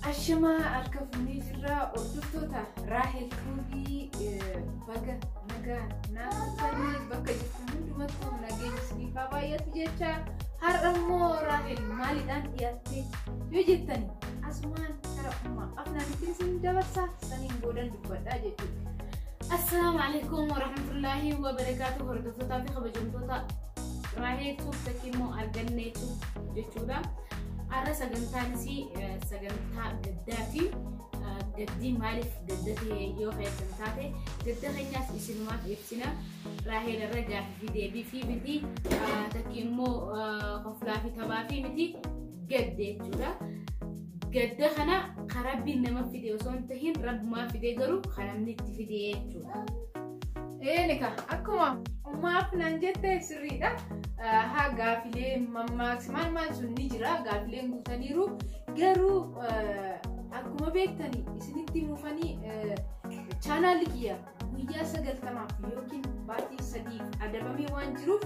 Ashamaa harka fuunee jirra hordoftoota Raahel Tuubii baga nagaa naannoo bakka jirtan hundumattuu nageenya isiniif haa baay'atu jecha har'a immoo Raahel maaliidhaan dhiyaattee yoo jettan asumaan gara uumaa afnaanitti isin dabarsaa saniin boodan dubbadhaa jechuudha. Assalaamu alaikum warahmatullaahi wabarakaatu hordoftoota fi kabajamtoota Raahel Tuubii immoo argannee jechuudha. Har'a sagantaan isii sagantaa gaddaa fi gaddii maaliif gadda ta'e yoo keessan taate gadda keenyaas isinumaaf ibsina. Raaheel irra gaaffii fi deebii fi miti takki immoo koflaa fi taphaa fi miti gadde jechuudha. Gadda kana kan rabbiin nama fide osoo hin tahin rabbumaa fide garuu kan namni itti fide jechuudha. Eenika akkuma maaf naan jette sirriidha. Haa gaafilee mammaaksi maal maal sun ni jira gaafileen guutaniiru garuu akkuma beektani isinitti muufanii chaanaalli kiyya guyyaa sagaltamaaf yookiin baatii sadiif adabamee waan jiruuf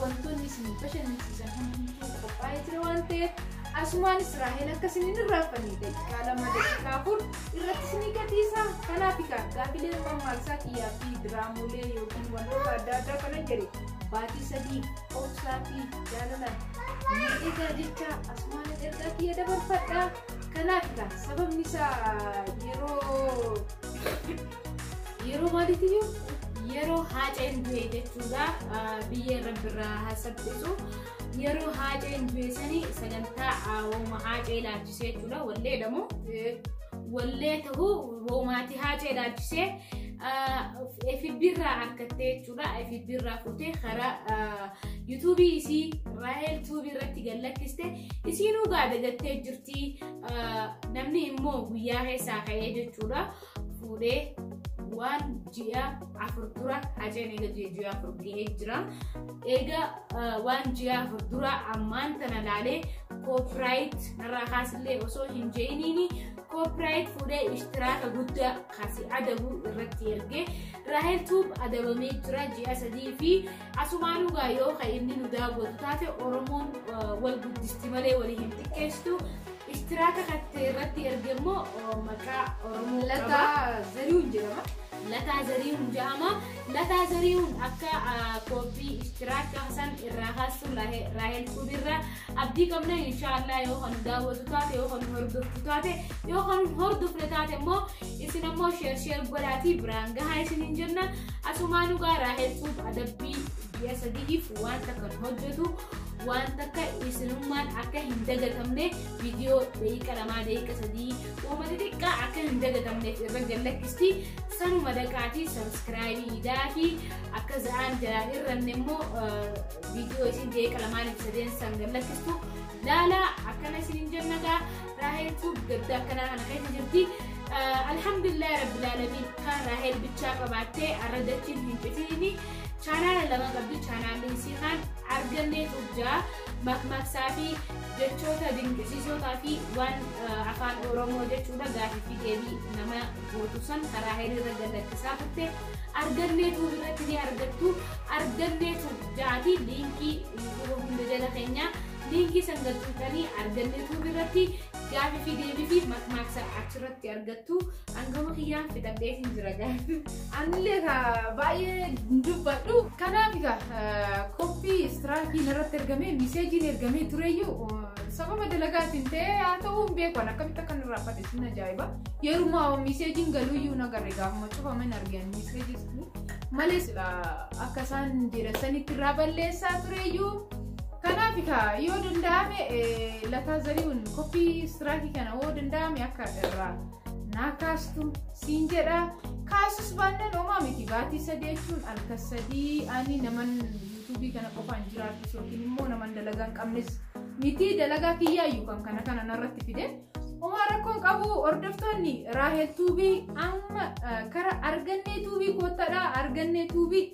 Wantoonni isin bashannansiisan hundumtuu qophaa'ee jira waan ta'eef asumaan Israa'el akka isin hin irraanfanne daqiiqaa lama daqiiqaa afur irratti isinii gadhiisa. Kanaaf egaa gaafilee mammaaksaa kiyyaa fi diraamolee yookiin wantoota adda addaa kana jedhe baatii sadii obsaa fi jaalalaan ni egaa jecha asumaan ergaa kiyya dabarfadha. Kanaaf egaa sababni isaa yeroo Yeroo maaliitiyyuu yeroo haaceen du'e jechuudha biyyee rabbi irraa haasabsiisu yeroo haaceen du'e sanii sagantaa wooma haacee ilaalchisee jechuudha wallee jedhamu wallee ta'uu woomaatii haacee ilaalchisee FB irraa argattee jechuudha FB irraa fuutee karaa yuutuubii isii raahel tuubii irratti gallakkiste isiinuu gaada gattee jirti namni immoo guyyaa keessaa ka'ee jechuudha. fuudhee waan ji'a afur dura haceen eega ji'a afur gahee jira. Eega waan ji'a afur dura ammaan tana laalee koopiraayit narraa kaasillee osoo hin jeeniini koopiraayit fuudhee ishtiraaka guddaa kasi adabu irratti erge. Raahel Tuub adabamee jira ji'a sadii fi Asumaanuu gaa yoo ka inni nu daawwatu taate Oromoon wal guddisti malee walii hin xiqqeessitu. Ishtiraaka kattee irratti erge immoo maqaa Oromoo qaba. Lataa Zarihuun jedhama. Lataa Zarihuun jedhama. Lataa Zarihuun akka kooppii ishtiraaka san irraa kaasuu Raahel Kuubirraa Abdii qabna inshaallah yoo kan daawwatu taate yoo kan hordoftu taate yoo kan hordofne taate immoo isin ammoo sheer sheer godhaatii biraan gahaa isiniin jenna asumaa dhugaa raahel tuub adabbii ji'a sadiif waan takkan hojjetu waan takka isinummaan akka hin dagatamne viidiyoo daqiiqa lamaa daqiiqa sadii uuma xixiqqaa akka hin dagatamne irra gallakkisti sanuma daqaatii sabiskiraayibii idaatii akka za'aan jalaa irranne immoo Viidiyoo isin jeeqala maaliif sadeen san gallakkistu laala akkana isin jennaga raahel tuub gadda akkanaa kana keessa jirti alhamdulillah rabbil alamin kan raahel bichaa qabaattee arra dachiin hin citiini chaanaala lama qabdi chaanaalli isii kan argannee tuub jaa makmaksaa fi jechoota dinqisiisootaa fi waan afaan oromoo jechuudha gaafii fi deebii nama gootu san raahel irra gallakkisaa turte Argannee tuub irratti ni argattu. Argannee tuub ja'aati liinkii yuutuuba hunda jala keenyaa liinkii san gad tuutanii argannee tuub irratti gaafii fi deebii fi makmaaksa achirratti argattu. Angama kiyyaan fixadhee hin jira gaafii. Anillee ka baay'ee hin dubbadhu. Kanaaf egaa qophii istiraakiin irratti ergamee miseejiin ergamee tureyyuu sababa dalagaatiin ta'ee haa ta'uu hin beeku akkamitti akka nurraa fadhe. hin ajaa'iba yeruma miseejiin galuu iyyuu na garre gaafuma cufame hin argeen miseejis malee sila akka isaan jedhan sanitti irraa balleessaa ture iyyuu kanaaf kaa yoo danda'ame eh, lataa zari'uun koppii istiraakii kana yoo danda'ame akka irraa naa kaastu siin jedha kaasus baannaan homaa miti baatii sadii jechuun halkan sadii ani naman yuutuubii kana qofaan jiraachus yookiin immoo naman dalagaa hin qabnes miti dalagaa kiyyaayyuu kan kana kana narratti fide Homaa rakkoon qabu hordoftoonni Raahel Tuubii amma kara argannee tuubii koottadha argannee tuubii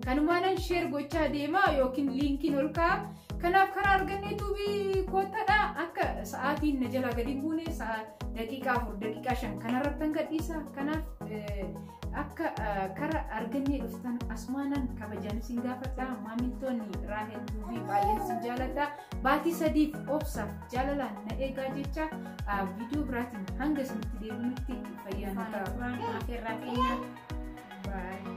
kanumaanan sheer gochaa deema yookiin liinkiin ol ka'a. Kanaaf karaa argannee tuubii koottadha akka sa'aatiin na jalaa gadi hin buune sa'a daqiiqaa afur daqiiqaa shan kanarratti kan gadhiisa. Kanaaf akka kara argannee dhuftan asumaanan kabajaan isin gaafadha. Maamiltoonni Raahel Tuubii baay'een isin jaaladha. Baatii sadiif obsa jaalalaan na eegaa jecha viidiyoo biraatiin hanga isinitti deebinutti fayyaan Afaan Afaan Afeerraa keenya. Bye.